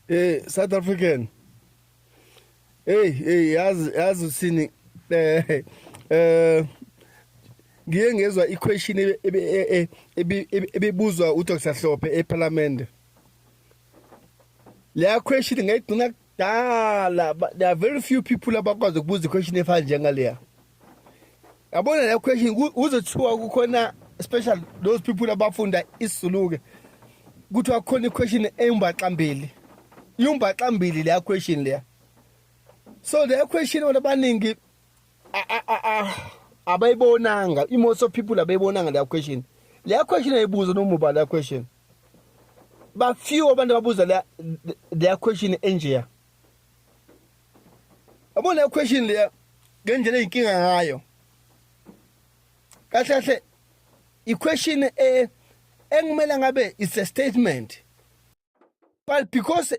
Hey South African. Hey hey yazi yazi usini eh eh ngiye ngezwa iquestion e, e, e, ebibuzwa uDr Hlophe eParliament. Leya question ngayigcina dala but there are very few people abakwazi ukubuza iquestion efana njengaleya yabona leyo question kuzothiwa kukhona special those people abafunda isizulu-ke kuthiwa kukhona iquestion eyumbaxambili yumbaxambili leya question leya so leya question abantu abaningi abayibonanga i-most of people abayibonanga leya question leya question ayibuza nomuba leya question bafew abantu ababuza leya leya question enjeya yabo leya question leya ngendlela eyinkinga ngayo kahle kahle i-question e, engimele ngabe it's a statement but because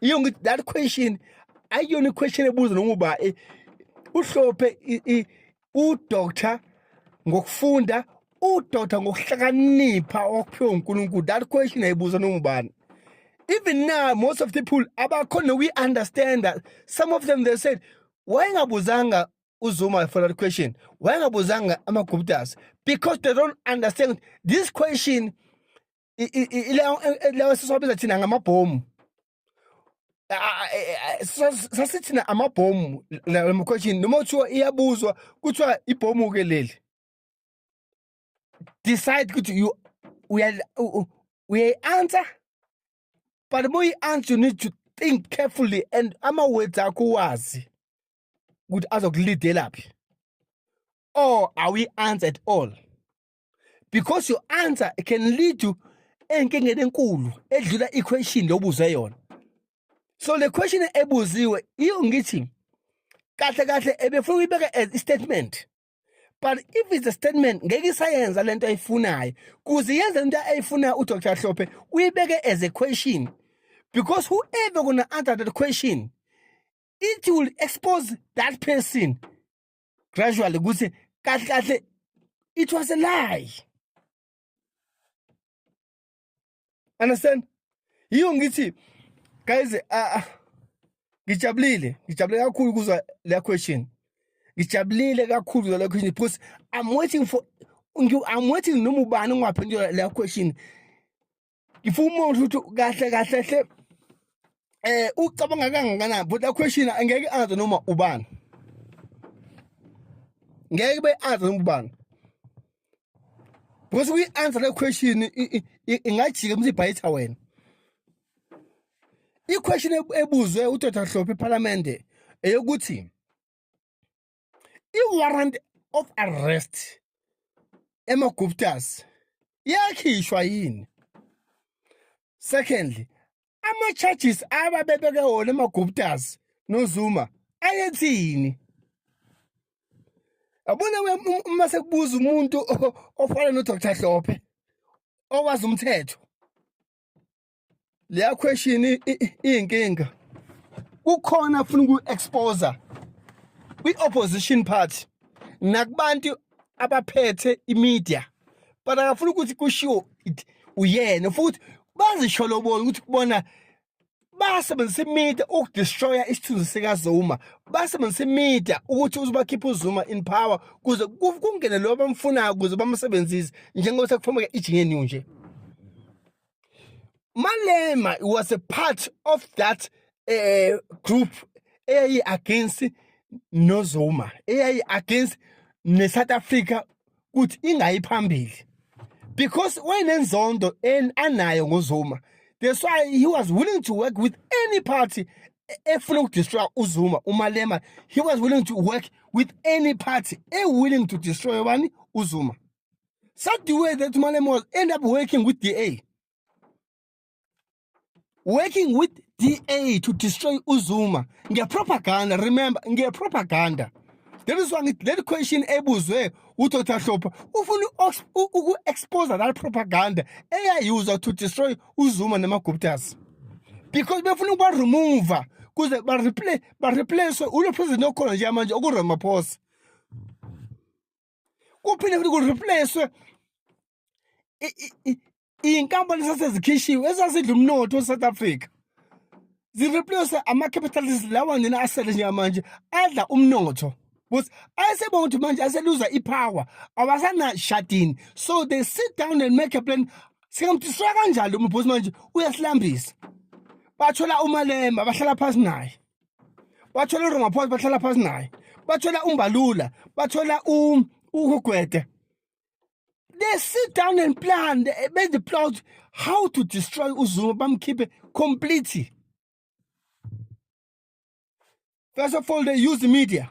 iyo ngithi that question ayiyona iquestion ebuza noma uba eh, uhlophe udoctor ngokufunda udoctor ngokuhlakanipha okuphiwa uNkulunkulu that question ayibuza noma ubani even now most of the people abakhona we understand that some of them they said wayengabuzanga uzuma for that question wayengabuzanga amaguptas because they don't understand this question i- i- i- ilawo e- ilawo esisiwabiza thina ngamabhomu A- a- e- e- sas- sasithina amabhomu la mkhweshini noma kuthiwa iyabuzwa kuthiwa ibhomu ke leli decide ukuthi you uya- u- u- uyayi-answer but uma uyi-answer you need to think carefully and ama-words akho uwazi ukuthi azokulidelaphi or awuyi-answer at all because your answer can lead to enkingeni enkulu edlula iquestion lobuze yona so le question ebuziwe iyo ngithi kahle kahle ebefuna uyibeke as statement but if it's a statement ngeke isayenza lento ayifunayo kuze yenze into ayifunayo uDr Hlophe uyibeke as a question because whoever gonna answer that question it will expose that person gradually ukuthi kahle kahle it was a lie understand yiyo ngithi guys ah, ah, ngijabulile ngijabulile kakhulu kuzwa le question ngijabulile kakhulu kuzwa le question because i'm waiting for i'm waiting noma ubani ungaphendula le question ngifuna umuntu ukuthi kahle kahle hle eh ucabanga kangakanani but la question angeke azi noma ubani ngeke be azi noma ubani because we answer the question ingajika mse ibhayitha wena i question ebuzwe uDr Hlophe eParliament eyokuthi i-warrant of arrest emaguptas yakhishwa yini secondly ama-charges ababebeke wona emaguptas nozuma ayethini yabona uma sekubuza umuntu ofana nodr hlophe owazi umthetho leya question iyinkinga kukhona funa uku-exposa kwi-opposition party nakubantu abaphethe imedia but akafuna ukuthi kushiwo uyena futhi bazisholobona ukuthi kubona basebenzisa imedia ukudestroya isithunzi sikazuma basebenzisa imedia ukuthi uzobakhipha uzuma in power kuze kungene lo bamfunayo kuze bamsebenzise njengoba sekufomeke ijinge new nje Malema was a part of that uh, group eyayi against noZuma eyayi against neSouth Africa kuthi ingayi phambili because wayenenzondo anayo ngoZuma that's why he was willing to work with any party efuna ukudestroya uZuma uMalema he was willing to work with any party e willing to destroy bani uZuma Such the way that Malema was end up working with DA. Working with DA to destroy Uzuma. Nge propaganda, remember, nge propaganda. That is why that question ebuzwe uThotha Hlopha ufuna uku expose that propaganda eyayiuza to destroy Uzuma namaGuptas. Because befuna ukuba remove kuze ba replace ba replace ulo president okhona nje manje okuRamaphosa. kuphinde futhi ku-replace-we iy'nkampani esasezikhishiwe ezasidla umnotho e-south africa zireplace ama-capitalist lawa nina asele njengamanje adla umnotho because ayesebona ukuthi manje aseluza i-power awasanashadini so they sit down and make a plan singamdiswa kanjalo umabhosi manje uyasilambisa bathola umalemba bahlala phansi naye bathola uRamaphosa bahlala phansi naye bathola umbalula bathola uhugwede they sit down and plan they made the plot how to destroy uzuma bamkhiphe completely first of all they use the media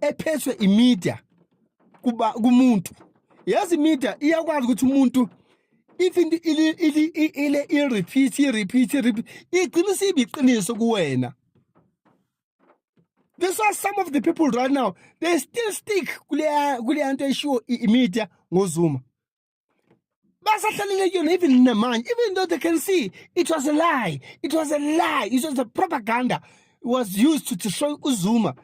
ephethwe imedia kuba kumuntu yazi imedia iyakwazi ukuthi umuntu if into ile ile ile i repeat i repeat i repeat igcina sibe iqiniso kuwena This why some of the people right now they still stick kule kule nto eshiwo imedia ngoZuma basahlalele kuyona even namanje even though they can see it was a lie it was a lie it was a propaganda it was used to destroy uzuma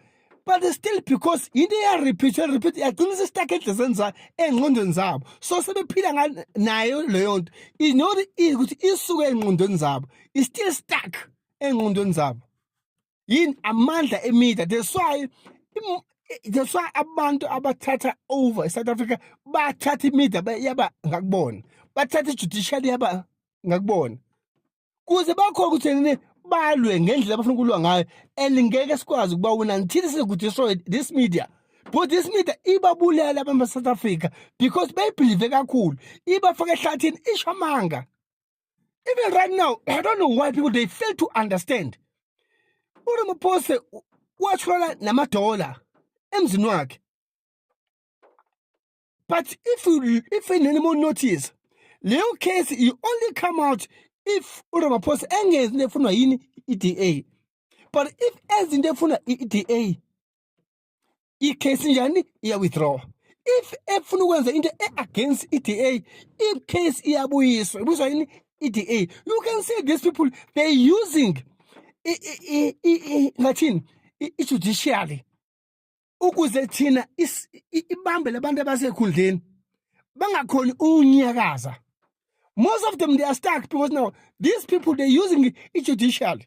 but still because into iyarepeatwa repeat yagcina sesitaka edlezeni zayo engqondweni zabo so sebephila nayo leyo nto inoti ukuthi isuke engqondweni zabo istill stuck engqondweni zabo yini amandla emedia that's why that's why abantu abathatha over eSouth Africa bathatha imedia yaba ngakubona bathatha ijudiciary yaba ngakubona kuze bakhona ukuthi nini balwe ngendlela abafuna ukulwa ngayo and ngeke sikwazi ukuba wona until sekuthi this media but this media ibabulele abantu baSouth Africa because bayibhilive kakhulu ibafaka ehlathini ishamanga even right now i don't know why people they fail to understand uramaphosa watshwala namadola emzini wakhe but if you if anymore notice leyo case you only come out if uramaphosa engenzi into efunwa yini i-da but if ezinto efunwa i-da icase njani iya withdraw if efuna ukwenza into e-against i-da icase iyabuyiswa ibuyiswa yini i-da you can say these people they're using ngathini i-judiciary ukuze thina ibambe labantu abasekhundleni bangakhoni unyakaza most of them they are stuck because now these people they're using i-judiciary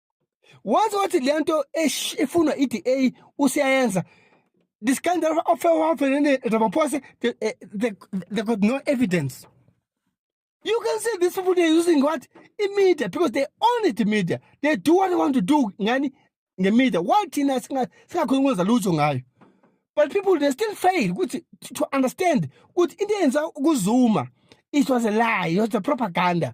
wazi wathi le nto efunwa i-d a usiyayenza this kind of ofewafelene ramaphosa they, eh, they, they got no evidence you can see these people they're using what imedia because they own it media they do what they want to do ngani ngemedia why thina singakhoni kwenza lutho ngayo but people they still fail ukuthi to understand ukuthi into eyenza kuzuma it was a lie it was a propaganda